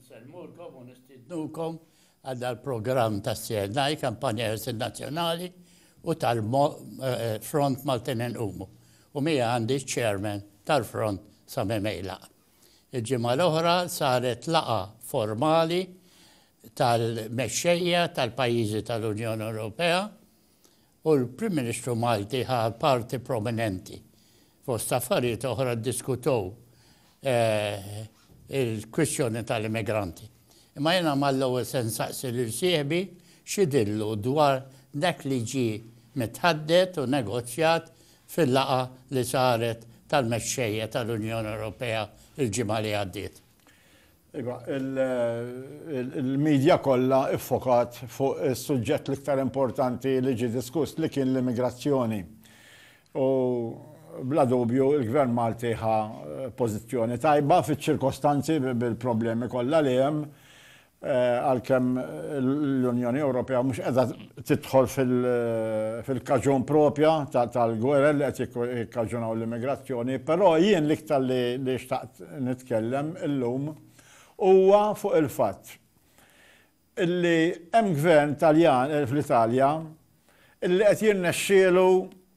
Insellmulkom u nistiednukom għal dal-programm tas-CNI, Kampanja Ħelsien Nazzjonali u tal-Front Maltin Inqumu, u miegħi għandi ċ-Chairman tal-Front Sami Meilaq. Il-ġimgħa l-oħra saret laqgħa formali tal-mexxejja tal-pajjiżi tal-Unjoni Ewropea u l-Prim Ministru Malti ħa parti prominenti. Fost affarijiet oħra ddiskutew il-kwistjoni tal-immigranti. Imma jiena mal-ewwel se nsaqsi lil sieħbi x'idhillu dwar dak li ġie mitħaddet u negozjat fil-laqgħa li saret tal-mexxejja tal-Unjoni Ewropea l-ġimgħa li għaddiet. Iva, il-midja kollha iffokat fuq is-suġġett l-iktar importanti li ġie diskuss li kien l-immigrazzjoni. U bla dubju l-Gvern Malti ħa pożizzjoni tajba fiċ-ċirkostanzi bil-problemi kollha li hemm għalkemm l-Unjoni Ewropea mhux qiegħda tidħol fil-kaġun propja tal-gwerer li qed jikkaġunaw l-immigrazzjoni, però jien l-iktar li xtaqt nitkellem illum huwa fuq il-fatt illi hemm gvern Taljan fl-Italja illi qed jirnexxielu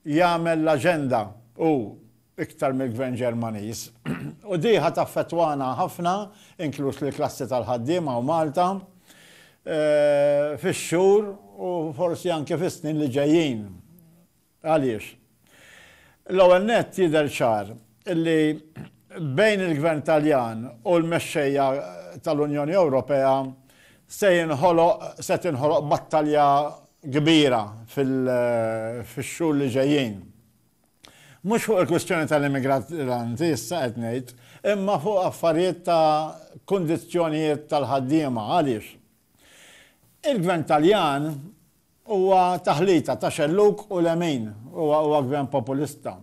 jagħmel l-aġenda hu iktar mill-Gvern Ġermaniż. U di ħa taffettwana ħafna, inkluż lill-klassi tal-ħaddiema hawn Malta, fix-xhur u forsi anke fis-snin li ġejjin. Għaliex? L-ewwel nett jidher ċar li bejn il-Gvern Taljan u l-mexxejja tal-Unjoni Ewropea se jinħoloq, se tinħoloq battalja kbira fil-xhur li ġejjin. Mhux fuq il-kwistjoni tal-immigranti issa qed ngħid, imma fuq affarijiet ta' kundizzjonijiet tal-ħaddiema. Għaliex? Il-Gvern Taljan huwa taħlita ta' xellug u lemin. Huwa huwa Gvern populista.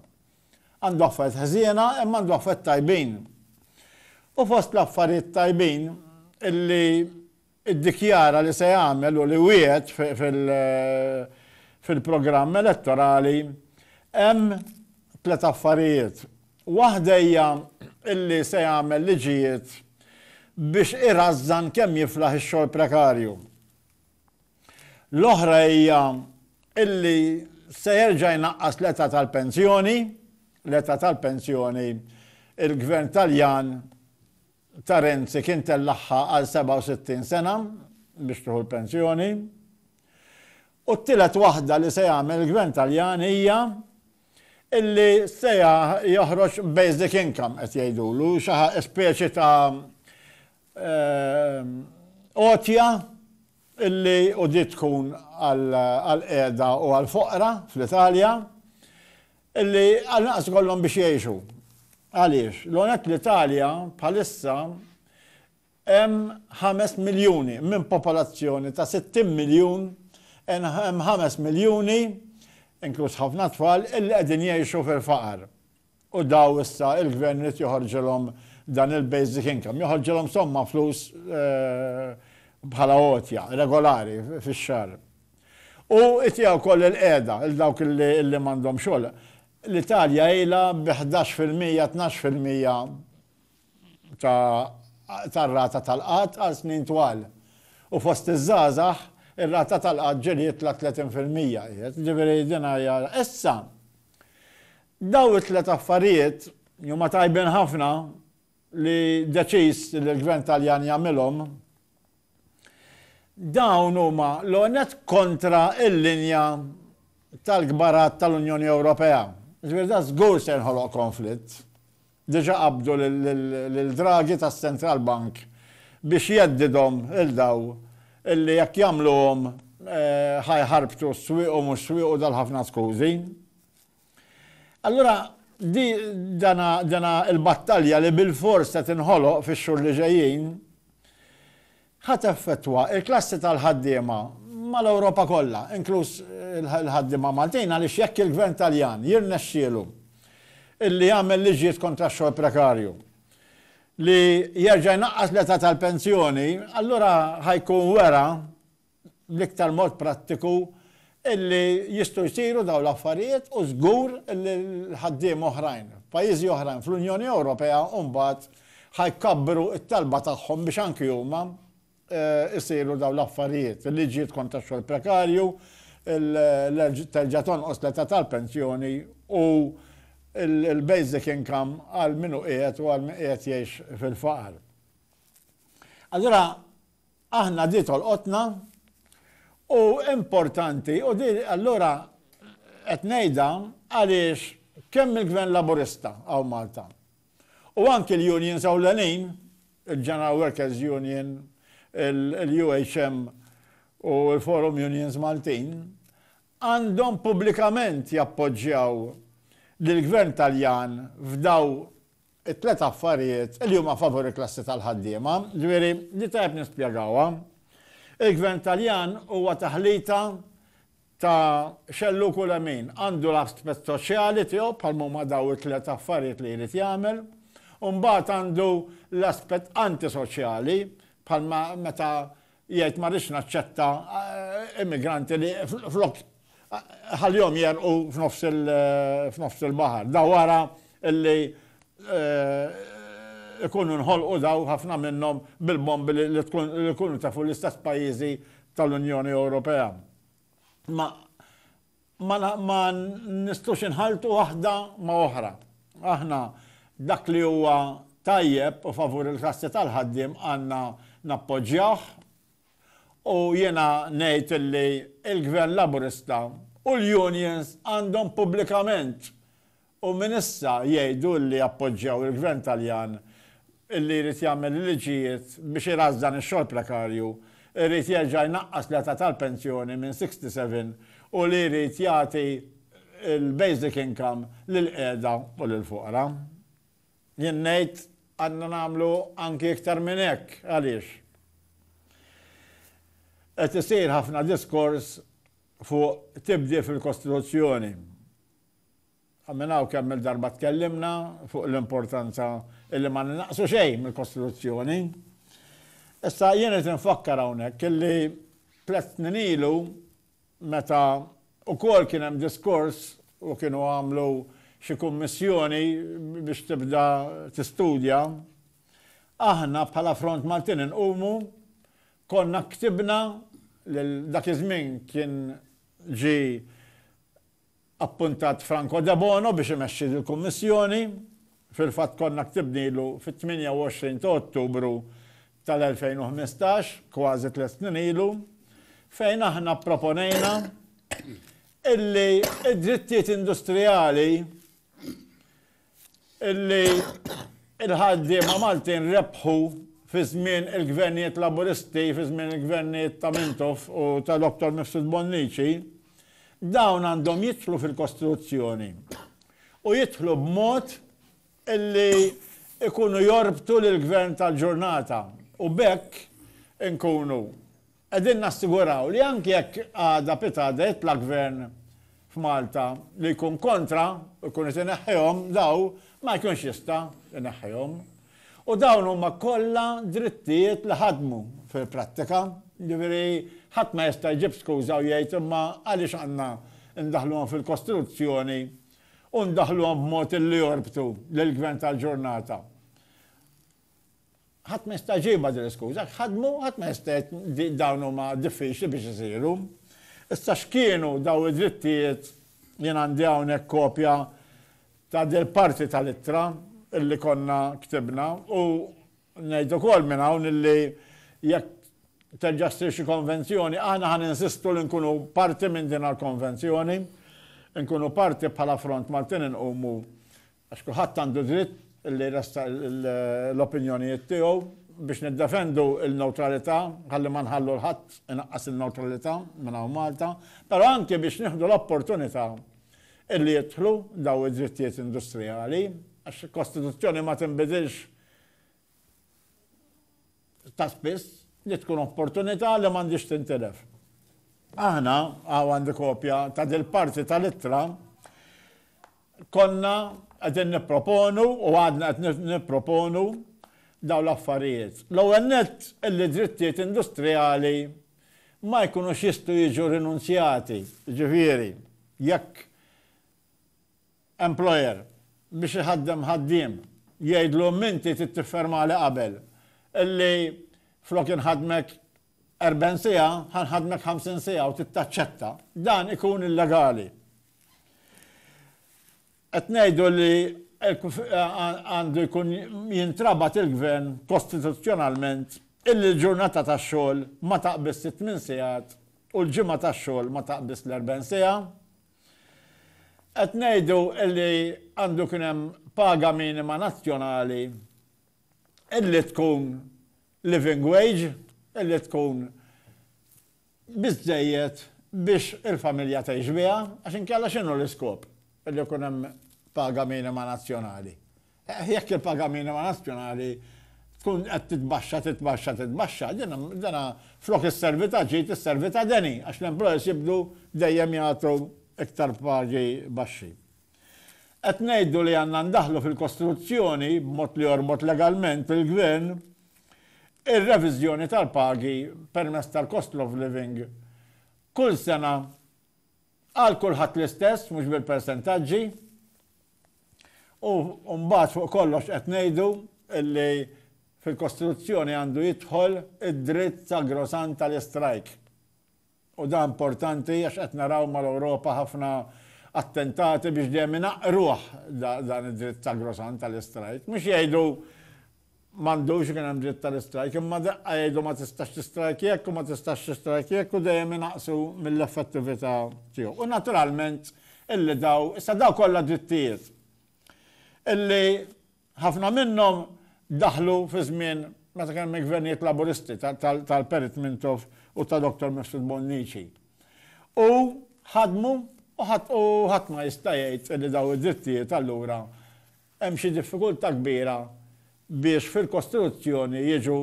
Għandu affarijiet ħżiena imma għandu affarijiet tajbin. U fost l-affarijiet tajbin illi iddikjara li se jagħmel u li wiegħed fil-programm elettorali, hemm tliet affarijiet. Waħda hija li se jagħmel liġijiet biex irażżan kemm jiflaħ ix-xogħol prekarju. L-oħra hija li se jerġa' jnaqqas l-età tal-pensjoni, l-età tal-pensjoni l-Gvern Taljan ta' Renzi kien tellagħha għal 67 sena biex tieħu l-pensjoni. U t-tielet waħda li se jagħmel il-Gvern Taljan hija illi se joħroġ basic income qed jgħidulu, xi speċi ta' għotja illi u di tkun għall-qiegħda u għall-foqra fl-Italja. Illi għall-inqas ikollhom biex jgħixu. Għaliex, l-ewwel nett l-Italja bħalissa hemm ħames miljuni minn popolazzjoni ta' sittin miljun, hemm ħames miljuni, inkluż ħafna tfal, illi qegħdin jgħixu fil-faqar. U daw issa il-Gvern irid joħorġilhom dan il-basic income, joħorġilhom somma flus bħala għotja regolari fix-xahar. U itiha wkoll il-qiegħda lil dawk li m'għandhom xogħol. L-Italja ilha bi ħdax fil-mija, tnax fil-mija tar-rata tal-qgħad għal snin twal. U fost iż-żgħażagħ, ir-rata tal-qgħad ġieliet la tletin fil-mija qiegħed. Jiġifieri din hija. Issa, dawn it-tliet affarijiet li huma tajbin ħafna li deċiż li l-Gvern Taljan jagħmilhom, Dawn huma, l-ewwel nett, kontra l-linja tal-kbarat tal-Unjoni Ewropea. Ġifieri dan żgur se jinħoloq konflitt. Diġà qabbdu lil Draghi tas-Central Bank biex jheddidhom lil dawn illi jekk jagħmluhom ħa jħarbtu s-swieq u mhux swiequ dal-ħafna skużi. Allura, di, dana, dana l-battalja li bilfors se tinħoloq fix-xhur li ġejjin, ħa teffettwa l-klassi tal-ħaddiema mal-Ewropa kollha, inkluż il-ħaddiema Maltin, għaliex jekk il-Gvern Taljan jirnexxielu illi jagħmel liġijiet kontra x-xogħol prekarju, li jerġa' jnaqqas l-età tal-pensjoni, allura ħa jkun wera, bl-iktar mod prattiku illi jistgħu jsiru dawn l-affarijiet u żgur illi l-ħaddiema oħrajn f'pajjiżi oħrajn fl-Unjoni Ewropea mbagħad ħa jkabbru t-talba tagħhom biex anki huma jsiru dawn l-affarijiet, il-liġijiet kontra x-xogħol prekarju, terġa' tonqos l-età tal-pensjoni u l-basic income għal min hu qiegħed u għal min qiegħed jgħix fil-faqar. Allura, Aħna di tolqotna u importanti u di allura qed ngħidha għaliex kemm il-Gvern Laburista hawn Malta u anki l-unions ewlenin, il-General Workers Union, il-UHM u l-Forum Unions Maltin, għandhom pubblikament jappoġġjaw lill-Gvern Taljan f'dawn it-tliet affarijiet li huma favur il-klassi tal-ħaddiema, ġifieri li tajjeb nispjegawha. Il-Gvern Taljan huwa taħlita ta' xellug u lemin. Għandu l-aspett soċjali tiegħu bħalma huma dawn it-tliet affarijiet li jrid jagħmel, u mbagħad għandu l-aspett antisoċjali bħalma meta jgħid ma rridx naċċetta immigranti li flok Ħallihom jegħrqu f'nofs il-baħar. Da wara li jkunu nħolqu daw ħafna minnhom bil-bombi li jkunu tefu l-istess pajjiżi tal-Unjoni Ewropea. Ma nistgħux inħalltu waħda ma' oħra. Aħna dak li huwa tajjeb u favur il-klassi tal-ħaddiem għandna nappoġġjawh. U jiena ngħid li l-Gvern Laburista u l-unions għandhom pubblikament u minn issa jgħidu li jappoġġjaw il-Gvern Taljan li jrid jagħmel il-liġijiet biex irażżan ix-xogħol prekarju, irid jerġa' jnaqqas l-età tal-pensjoni minn 67 u li jrid jagħti l-basic income lill-qiegħda u lill-foqra. Jien ngħid għandna nagħmlu anki iktar minn hekk. Għaliex? Qed isir ħafna diskors fuq tibdil fil-Kostituzzjoni. Minn hawn kemm-il darba tkellimna fuq l-importanza illi ma ninaqsu xejn mill-Kostituzzjoni. Issa jien qed infakkar hawnhekk illi tliet snin ilu meta wkoll kien hemm diskors u kienu għamlu xi kummissjoni biex tibda tistudja, aħna bħala Front Maltin Inqumu konna ktibna lil dak iż-żmien kien ġie appuntat Franco Debono biex imexxi dil-Kummissjoni. Fil-fatt konna ktibnilu fit-28 ta' Ottubru tal-2015, kważi tliet snin ilu, fejn aħna pproponejna illi d-drittijiet industrijali illi l-ħaddiema Maltin rebħu fi żmien il-Gvernijiet Laburisti, fi żmien il-Gvernijiet ta' Mintoff u ta' Dottor Mifsud Bonnici, dawn għandhom jidħlu fil-Kostituzzjoni u jidħlu b'mod illi jkunu jorbtu lill-Gvern tal-ġurnata u b'hekk inkunu Qegħdin nassiguraw li anki jekk għada pitgħada jitla' Gvern f'Malta li jkun kontra u jkun qed ineħħihom daw ma jkunx jista' jneħħihom. U dawn huma kollha drittijiet li ħadmu fil-prattika, jiġifieri ħadd ma jista' jġib skuża u jgħid imma għaliex għandna ndaħħluhom fil-Kostituzzjoni u ndaħħluhom b'mod li jorbtu lill-Gvern tal-ġurnata. Ħadd ma jista' jġibha din l-iskuża, hekk ħadmu, ħadd ma jista' jgħid dawn huma diffiċli biex isiru. Issa x'kienu dawn id-drittijiet, jien għandi hawnhekk kopja ta' dil-parti tal-ittra illi konna ktibna u ngħid ukoll minn hawn illi jekk terġa' ssir xi konvenzjoni aħna ħa ninsistu li nkunu parti minn din il-konvenzjoni, nkunu parti bħala Front Maltin inqumu Għax kulħadd għandu dritt li jressaq l-opinjonijiet tiegħu biex niddefendu l-newtralità, ħalli ma nħallu 'l ħadd inaqqas in-newtralità minn hawn Malta, però anki biex nieħdu l-opportunità li jidħlu dawn id-drittijiet industrijali, għax il-Kostituzzjoni ma tinbidilx ta' spiss, li tkun opportunità li m'għandhiex tintilef. Aħna, hawn għandi kopja ta' dil-parti tal-ittra, Konna qegħdin nipproponu u għadna qed nipproponu dawn l-affarijiet. L-ewwel nett illi drittijiet industrijali ma jkunux jistgħu jiġu rinunzjati, jiġifieri jekk employer biex iħaddem ħaddiem jgħidlu m'inti trid tiffermali qabel illi flok inħaddmek 40 siegħa, ħa nħaddmek 50 siegħa u tittaċċetta, dan ikun illegali. Qed ngħidu li għandu jkun jintrabat il-gvern kostituzzjonalment illi l-ġurnata tax-xogħol ma taqbiż it-tmien sigħat u l-ġimgħa tax-xogħol ma taqbiż l-40 siegħa. Qed ngħidu illi għandu kien hemm paga minima nazzjonali illi tkun living wage li tkun biżżejjed biex il-familja tgħix biha għax inkella x'inhu l-iskop li jkun hemm paga minima nazzjonali? Jekk il-paga minima nazzjonali tkun qed titbaxxa, titbaxxa, titbaxxa, din dana flok isservi ta' ġid isservi ta' deni għax l-employers jibdu dejjem jagħtu iktar pagi baxxi. Qed ngħidu li għandna ndaħħlu fil-kostruzzjoni, b'mod li jorbot legalment il-Gvern, ir-reviżjoni tal-pagi permezz tal-cost of living kull sena għal kulħadd l-istess, mhux bil-persentaġġi, u mbagħad fuq kollox qed ngħidu li fil-kostruzzjoni għandu jidħol id-dritt sagrosant tal-istrajk. U dan importanti għax qed naraw mal-Ewropa ħafna attentati biex dejjem inaqqruh dan id-dritt sagrosant tal-istrajk. Mhux jgħidu m'għandux ikun hemm dritt tal-istrajk, imma daqqa jgħidu ma tistax tistrajk jekk u ma tistax tistrajk jekk u dejjem inaqqsu mill-effettività tiegħu. U naturalment illi dawn, issa dawn kollha drittijiet illi Ħafna minnhom daħlu fi żmien meta kien hemm il-Gvernijiet Laburisti tal-Perit Mintoff u ta' Dottor Mifsud Bonnici. U ħadmu u ħadd ma jista' jgħid li dawn id-drittijiet allura hemm xi diffikultà kbira biex fil-Kostituzzjoni jiġu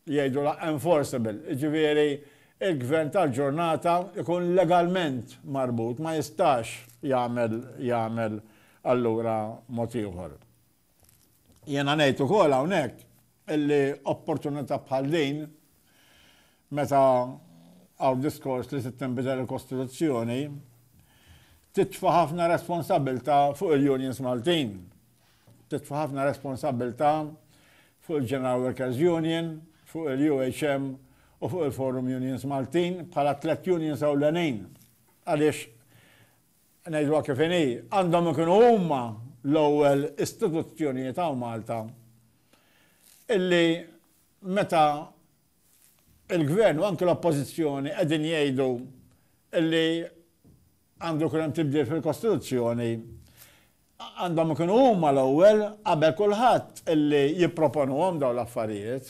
jgħidulha enforceable, jiġifieri l-gvern tal-ġurnata jkun legalment marbut, ma jistax jagħmel jagħmel allura mod ieħor. Jiena ngħid ukoll hawnhekk illi opportunità bħal din meta hawn diskors li trid tinbidel il-Kostituzzjoni titfa' ħafna responsabbiltà fuq il-unions Maltin. titfa' ħafna responsabbiltà fuq il-General Workers Union, fuq il-UHM u fuq il-Forum Unions Maltin bħala tlet unions ewlenin. Għaliex ngħidwa kif inhi, għandhom ikunu huma l-ewwel istituzzjonijiet hawn Malta illi meta il-gvern u anke l-oppożizzjoni qegħdin jgħidu illi Għandu jkun hemm tibdil fil-Kostituzzjoni. Għandhom ikunu huma l-ewwel qabel kulħadd illi jipproponuhom dawn l-affarijiet.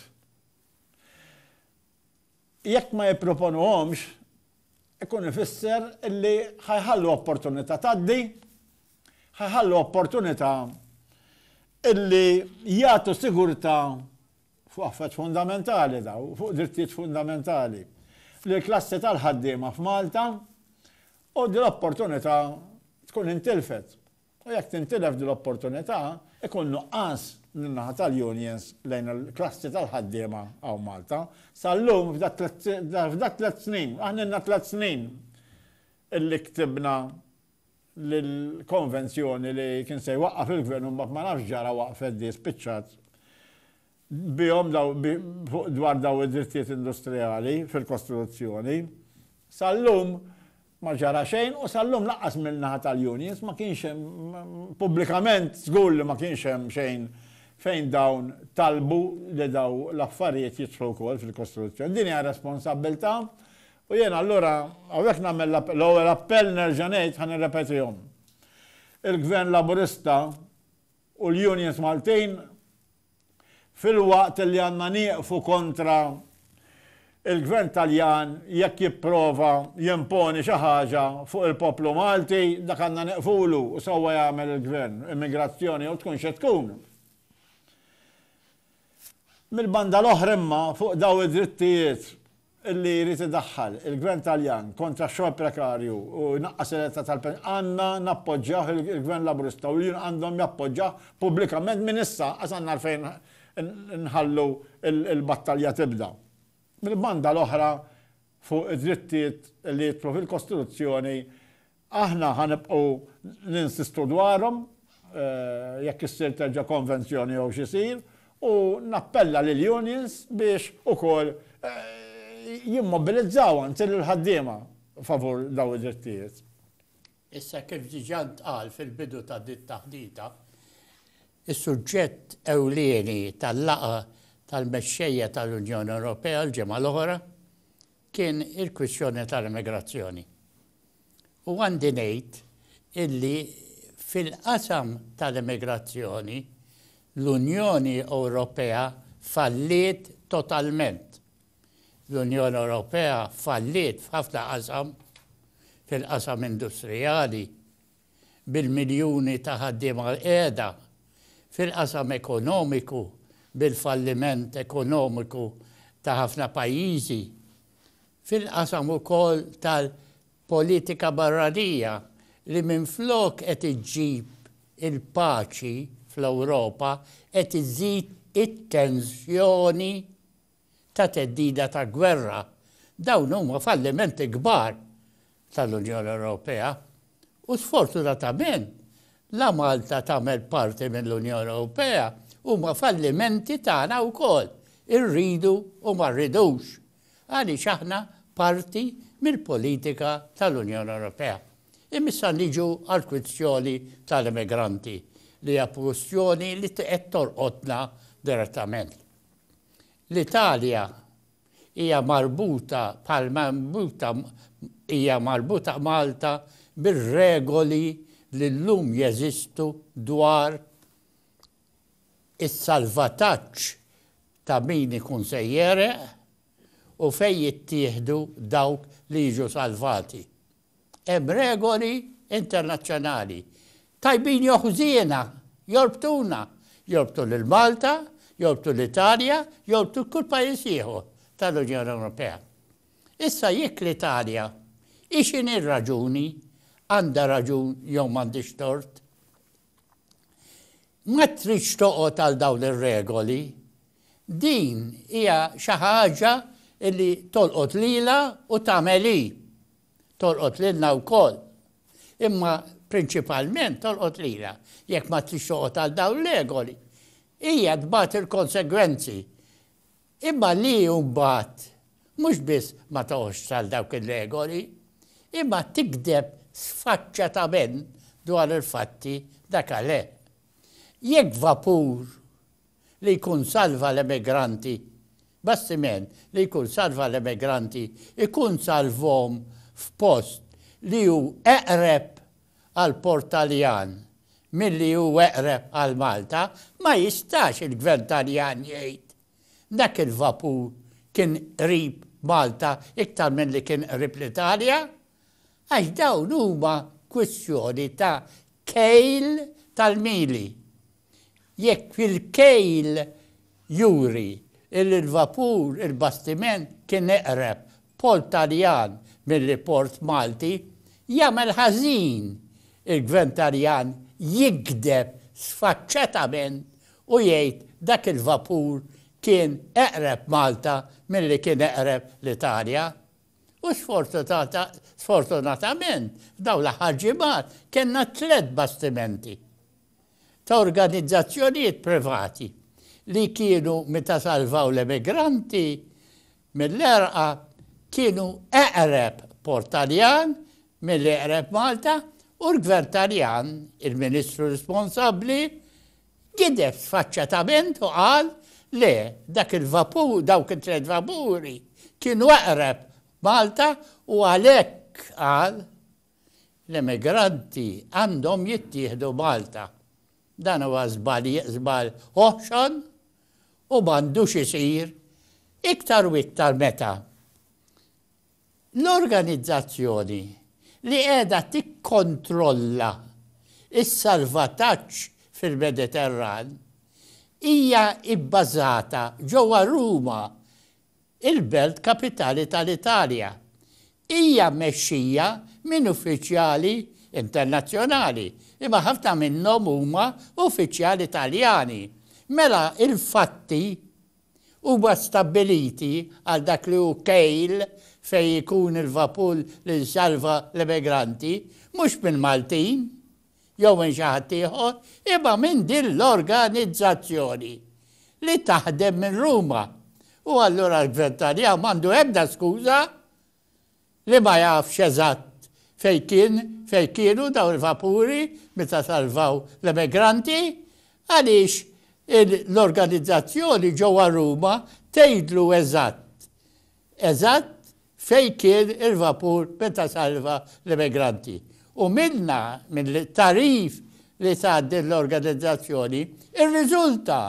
Jekk ma jipproponuhomx, ikun ifisser illi ħa jħallu opportunità tgħaddi, ħa jħallu opportunità illi jagħtu sigurtà fuq affarijiet fundamentali dawn, fuq drittijiet fundamentali, lill-klassi tal-ħaddiema f'Malta u din l-opportunità tkun intilfet. U jekk tintilef din l-opportunità, ikun nuqqas min-naħa tal-unions lejn il-klassi tal-ħaddiema hawn Malta. Sal-lum, f'dak tliet snin, aħna ilna tliet snin illi ktibna l-konvenzjoni li kien se jwaqqaf il-gvern u mbagħad ma nafx ġara waqfet di spiċċat bihom dwar dawn id-drittijiet industrijali fil-kostruzzjoni. Sal-lum ma ġara xejn u sal-lum lanqas min-naħa tal-unions ma kienx hemm pubblikament żgur li ma kienx hemm xejn fejn dawn talbu li dawn l-affarijiet jidħlu wkoll fil-kostruzzjoni. Din hija responsabbiltà U jiena allura hawnhekk nagħmel l-ewwel appell nerġa' ngħid ħa nirrepetihom. Il-Gvern Laburista u l-unions Maltin filwaqt li għandna nieqfu kontra il-Gvern Taljan jekk jipprova jimponi xi ħaġa fuq il-poplu Malti, dak għandna nieqfulu u sewwa jagħmel il-Gvern, immigrazzjoni jew tkun xi tkun. Mill-banda l-oħra imma, fuq dawn id-drittijiet li jrid idaħħal il-Gvern Taljan kontra x-xogħol prekarju u jnaqqas il-età tal-pensjoni, għandna nappoġġjawh il-Gvern Laburista u l-union għandhom jappoġġawh pubblikament minn issa, għax għandna għalfejn inħallu l-battalja tibda. Mill-banda l-oħra, fuq id-drittijiet li jidħlu fil-Kostituzzjoni, Aħna ħa nibqgħu ninsistu dwarhom, jekk issir terġa' konvenzjoni jew x'isir, u nappella lill-unions biex ukoll jimmobilizzaw anzi lill-ħaddiema favur dawn id-drittijiet. Issa kif diġà ntqal fil-bidu ta' din it-taħdita, is-suġġett ewlieni tal-laqgħa tal-mexxejja tal-Unjoni Ewropea l-ġimgħa l-oħra, kien il-kwistjoni tal-immigrazzjoni. U għandi ngħid illi fil-qasam tal-immigrazzjoni l-Unjoni Ewropea falliet totalment. L-Unjoni Ewropea falliet f'ħafna qasam, fil-qasam industrijali, bil-miljuni ta' ħaddiema qiegħda fil-qasam ekonomiku bil-falliment ekonomiku ta' ħafna pajjiżi fil-qasam ukoll tal-politika barranija li minflok qed iġġib il-paċi fl-Ewropa qed iżżid it-tensjoni ta' theddida ta' gwerra, dawn huma fallimenti kbar tal-Unjoni Ewropea u sfortunatament la Malta tagħmel parti mill-Unjoni Ewropea huma fallimenti tagħna wkoll, irridu u ma rridux, għaliex aħna parti mill-politika tal-Unjoni Ewropea. Imma issa niġu għall-kwistjoni tal-immigranti li hija kwistjoni li qed tolqotna direttament. L-Italja hija marbuta bħalma marbuta hija marbuta Malta bir-regoli li llum jeżistu dwar is-salvataġġ ta' min ikun se jegħreq u fejn jittieħdu dawk li jiġu salvati. Hemm regoli internazzjonali, tajbin jew ħżiena, jorbtuna, jorbtu lil Malta, jorbtu l-Italja, jorbtu kull pajjiż ieħor tal-Unjoni Ewropea. Issa jekk l-Italja, hi x'inhi r-raġuni, għandha raġun jew m'għandhiex tort, Ma tridx toqgħod għal dawn ir-regoli. Din hija xi ħaġa li tolqot lilha u tagħmel hi. Tolqot lilna wkoll. Imma prinċipalment tolqot lilha. Jekk ma tridx toqgħod għal dawn ir-regoli, hija tbati l-konsegwenzi. Imma li mbagħad mhux biss ma toqgħodx għal dawk ir-regoli, imma tigdeb sfaċċatament dwar il-fatti dakaleeh. Jekk vapur li jkun salva l-emigranti, bastiment li jkun salva l-emigranti, ikun salvhom f'post li hu eqreb għall-port Taljan milli hu eqreb għal Malta, ma jistax il-Gvern Taljan jgħid dak il-vapur kien qrib Malta iktar milli kien qrib l-Italja, għax dawn huma kwistjoni ta' kejl tal-mili. jekk il-kejl juri li l-vapur, il-bastiment, kien eqreb port Taljan milli port Malti, jagħmel ħażin il-Gvern Taljan jigdeb sfaċċatament u jgħid dak il-vapur kien eqreb Malta milli kien eqreb l-Italja. U sfortunatament f'dawn l-aħħar ġimgħat kellna tliet bastimenti. ta' organizzazzjonijiet privati li kienu meta salvaw l-emigranti mill-għerqa kienu eqreb port Taljan milli eqreb Malta u l-Gvern Taljan, il-Ministru responsabbli, gideb sfaċċatament u qal le dak il-vapur, dawk it-tliet vapuri kienu eqreb Malta u għalhekk qal, L-immigranti għandhom jittieħdu Malta. Dan huwa żball żball oħxon u m'għandux isir iktar u iktar meta l-organizzazzjoni li qiegħda tikkontrolla s-salvataġġ fil-Mediterran hija bbażata ġewwa Ruma il-belt kapitali tal-Italja, hija mmexxija minn uffiċjali internazzjonali, imma ħafna minnhom huma uffiċjali Taljani. Mela l-fatti huma stabbiliti għal dak li hu kejl fejn ikun il-vapur li nsalva l-emigranti, mhux mill-Maltin. jew minn xi ħadd ieħor, imma minn din l-organizzazzjoni li taħdem minn Ruma. U allura l-Gvern Taljan m'għandu ebda skuża li ma jafx eżatt fejn kien, fejn kienu dawn il-vapuri meta salvaw l-emigranti, għaliex l-organizzazzjoni ġewwa Ruma tgħidlu eżatt, eżatt fejn kien il-vapur meta salva l-immigranti u minnha, mill-tagħrif li tat din l-organizzazzjoni, irriżulta,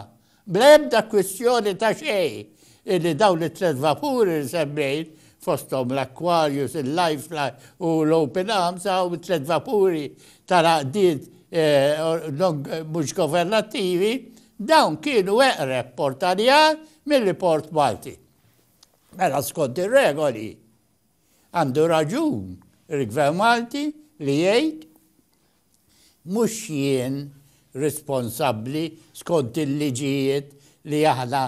bla ebda kwistjoni ta' xejn, illi dawn it-tliet vapuri li semmejt, fosthom l-Aquarius, il-Lifeline u l-Open Arms, hawn it-tliet vapuri tal-għaqdiet mhux governattivi, dawn kienu eqreb Port Għaljar milli Port Malti. Mela skont ir-regoli għandu raġun il-Gvern Malti li jgħid mhux jien responsabbli skont il-liġijiet li aħna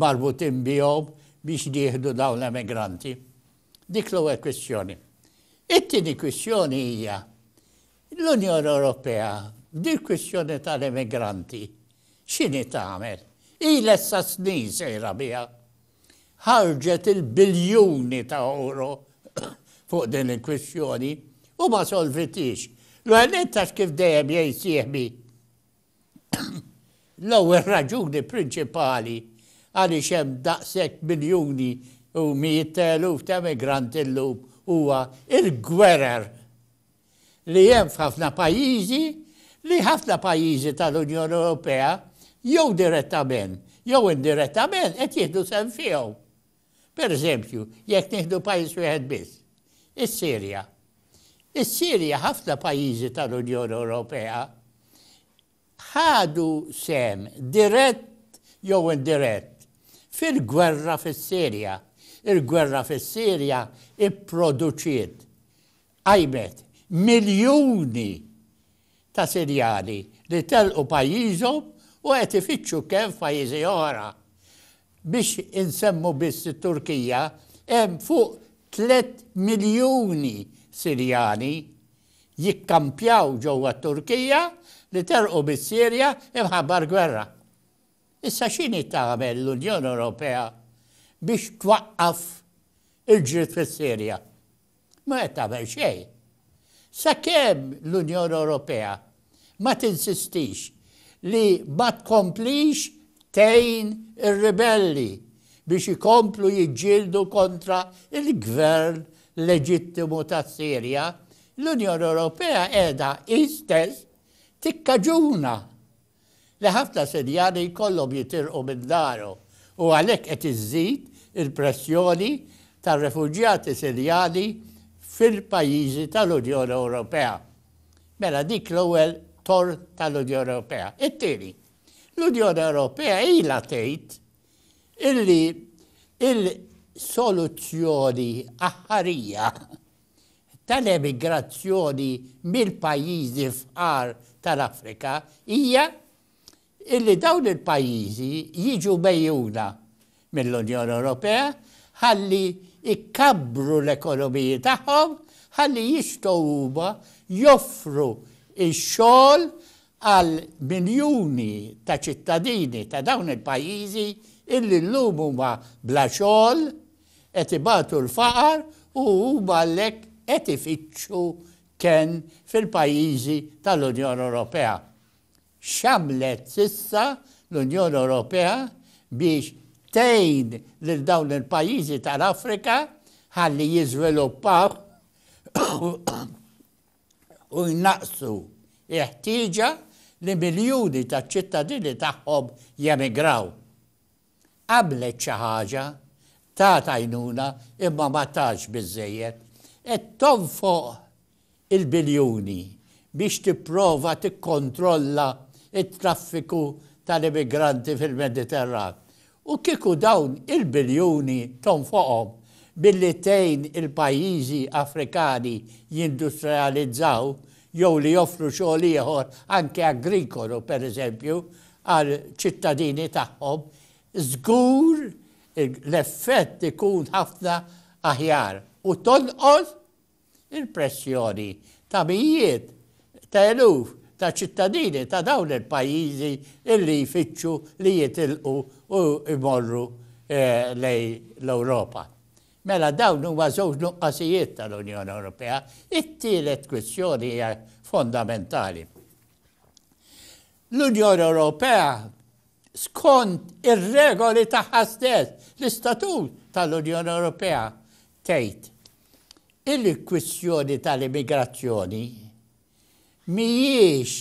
marbutin bihom biex nieħdu dawn l-emigranti. Dik l-ewwel kwistjoni. It-tieni kwistjoni hija L-Unjoni Ewropea b'dil-kwistjoni tal-immigranti x'inhi tagħmel? Ilha issa snin sejra biha. Ħarġet il-biljuni ta' ewro fuq din il-kwistjoni u ma solvitiex. L-ewwel nett għax kif dejjem jgħid sieħbi l-ewwel raġuni prinċipali għaliex hemm daqshekk miljuni u mijiet ta' eluf ta' immigranti llum huwa l-gwerer. li hemm f'ħafna pajjiżi li ħafna pajjiżi tal-Unjoni Ewropea jew direttament jew indirettament qed jieħdu sehem fihom. Per eżempju, jekk nieħdu pajjiż wieħed biss, is-Sirja. Is-Sirja ħafna pajjiżi tal-Unjoni Ewropea ħadu sehem dirett jew indirett fil-gwerra fis-Sirja. Il-gwerra fis-Sirja pproduċiet, qajmet, miljuni ta' Sirjani li telqu pajjiżhom u qed ifittxu kenn f'pajjiżi oħra. Biex insemmu biss it-Turkija, hemm fuq tlett miljuni Sirjani jikkampjaw ġewwa t-Turkija li telqu mis-Sirja imħabba l-gwerra. Issa x'inhi tagħmel l-Unjoni Ewropea biex twaqqaf il-ġlied fis-Sirja? Mhu qed tagħmel xejn. Sakemm l-Unjoni Ewropea Ma tinsistix li ma tkomplix tgħin ir-ribelli biex ikomplu jiġġieldu kontra l-gvern leġittimu tas-Sirja, l-Unjoni Ewropea qiegħda hi stess tikkaġuna li ħafna Sirjani jkollhom jitilqu minn darhom u għalhekk qed iżżid il-pressjoni tar-refuġjati Sirjani fil-pajjiżi tal-Unjoni Ewropea. Mela dik l-ewwel torn tal-Unjoni Ewropea. It-tieni, l-Unjoni Ewropea ilha tgħid illi il-soluzzjoni aħħarija tal-emigrazzjoni mill-pajjiżi fqar tal-Afrika hija illi dawn il-pajjiżi jiġu megħjuna mill-Unjoni Ewropea ħalli jkabbru l-ekonomiji tagħhom ħalli jistgħu huma joffru x-xogħol għal miljuni ta' ċittadini ta' dawn il-pajjiżi illi llum huma bla xogħol, qed ibatu l-faqar u huma għalhekk qed ifittxu kenn fil-pajjiżi tal-Unjoni Ewropea. X'għamlet s'issa l-Unjoni Ewropea biex tgħin lil dawn il-pajjiżi tal-Afrika ħalli jiżviluppaw u jnaqqsu l-ħtieġa li miljuni taċ-ċittadini tagħhom jemigraw? għamlet xi ħaġa, tat għajnuna imma ma tatx biżżejjed. Qed tonfoq il-biljuni biex tipprova tikkontrolla t-traffiku tal-immigranti fil-Mediterran. U kieku dawn il-biljuni tonfoqhom billi tgħin il-pajjiżi Afrikani jindustrializzaw jew li joffru xogħol ieħor anke agrikolu pereżempju għall-ċittadini tagħhom, żgur l-effett ikun ħafna aħjar u tonqos il-pressjoni ta' mijiet ta' eluf ta' ċittadini ta' dawn il-pajjiżi li jfittxu li jitilqu u jmorru lejn l-Ewropa. Mela dawn huma żewġ nuqqasijiet tal-Unjoni Ewropea. It-tielet kwistjoni hija fondamentali. L-Unjoni Ewropea, skont ir-regoli tagħha stess, l-Istatut tal-Unjoni Ewropea, tgħid illi l-kwistjoni tal-immigrazzjoni mhijiex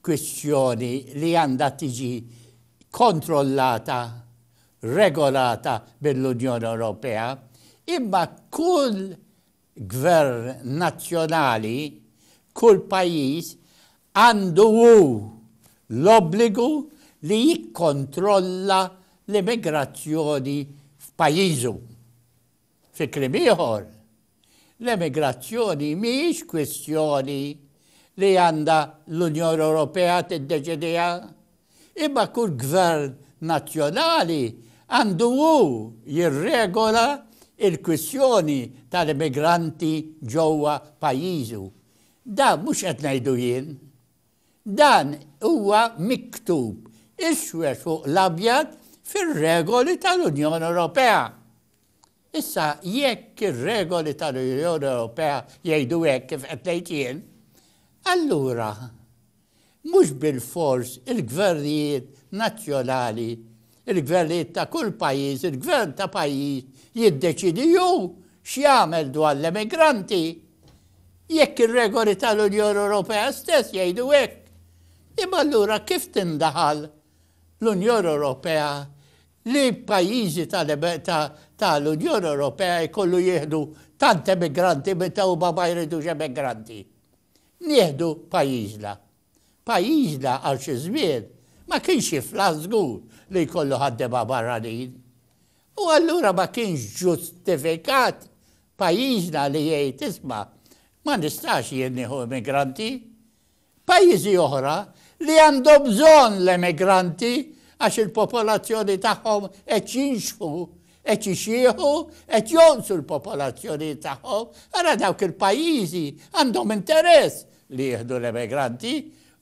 kwistjoni li għandha tiġi kontrollata, regolata mill-Unjoni Ewropea, imma kull Gvern nazzjonali, kull pajjiż għandu hu l-obbligu li jikkontrolla l-immigrazzjoni f'pajjiżu. Fi kliem ieħor, l-emigrazzjoni mhijiex kwistjoni li għandha l-Unjoni Ewropea tiddeċidiha, Imma kull gvern nazzjonali għandu hu jirregola l-kwistjoni tal-immigranti ġewwa pajjiżu. Dan mhux qed ngħidu jien. Dan huwa miktub iswed fuq l-abjad fir-regoli tal-Unjoni Ewropea. Issa jekk ir-regoli tal-Unjoni Ewropea jgħidu hekk kif qed ngħid jien, allura Mhux bilfors il-gvernijiet nazzjonali, il-gvernijiet ta' kull pajjiż, il-gvern ta' pajjiż jiddeċiedi hu x'jagħmel dwar l-emigranti, jekk ir-regoli tal-Unjoni Ewropea stess jgħidu hekk. Imma allura kif tindaħal l-Unjoni Ewropea li pajjiżi tal-Unjoni Ewropea jkollu jieħdu tant emigranti meta huma ma jridux emigranti? Nieħdu pajjiżna. Pajjiżna għal xi żmien ma kienx jiflaħ żgur li jkollu ħaddiema barranin. U allura ma kienx ġustifikat pajjiżna li jgħid isma' ma nistax jien nieħu immigranti. Pajjiżi oħra li għandhom bżonn l-emigranti għax il-popolazzjoni tagħhom qed jinxħu Qed jixjieħu, qed jonqsu l-popolazzjonijiet tagħhom, ara dawk il-pajjiżi għandhom interess li jieħdu l-emigranti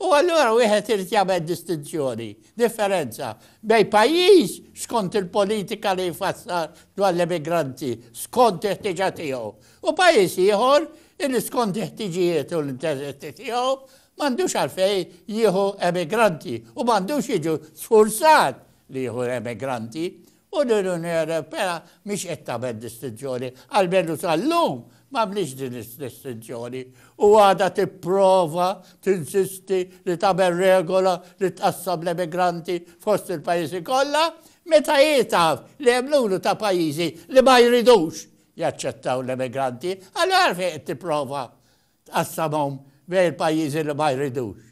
u allura wieħed irid jagħmel distinzjoni, differenza bejn pajjiż skont il-politika li jfassal dwar l-emigranti skont il-ħtieġa tiegħu u pajjiż ieħor illi skont il-ħtiġijiet u l-interessi tiegħu m'għandux għalfejn jieħu emigranti u m'għandux jiġu sfurzat li jieħu emigranti U l-Unjoni Ewropea mhix qed tagħmel distinzjoni, almenu sal-lum m'għamlitx din id-distinzjoni, u għadha tipprova tinsisti li tagħmel regola li tqassam l-emigranti fost il-pajjiżi kollha, meta hi taf li hemm numru ta' pajjiżi li ma jridux jaċċettaw l-emigranti, allura għalfejn qed tipprova tqassamhom bejn il-pajjiżi li ma jridux?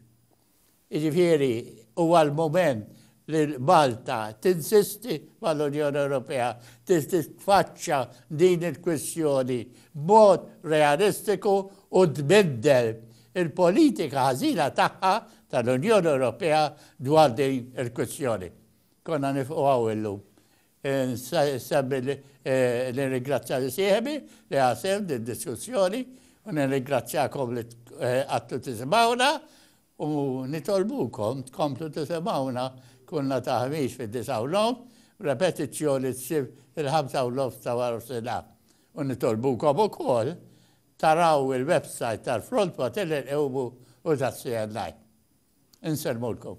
Jiġifieri huwa l-mument li Malta tinsisti mal-Unjoni Ewropea biex titfaċċa din il-kwistjoni b'mod realistiku u tbiddel il-politika ħażina tagħha tal-Unjoni Ewropea dwar din il-kwistjoni. Konna nifqu hawn illum. Insemmi li nirringrazzja lil sieħbi li ħa sehem f'did-diskussjoni u nirringrazzjakom li qgħadtu tisimgħuna u nitolbukom tkomplu tisimgħuna kull nhar ta' Ħamis fid-disgħa u nofs b'repetizzjoni s-Sibt fil-ħamsa u nofs ta' warof-sinhar u nitolbukom ukoll taraw il-websajt tal-Front Materni Nqewmu u tas-CNI. Insellmulkom.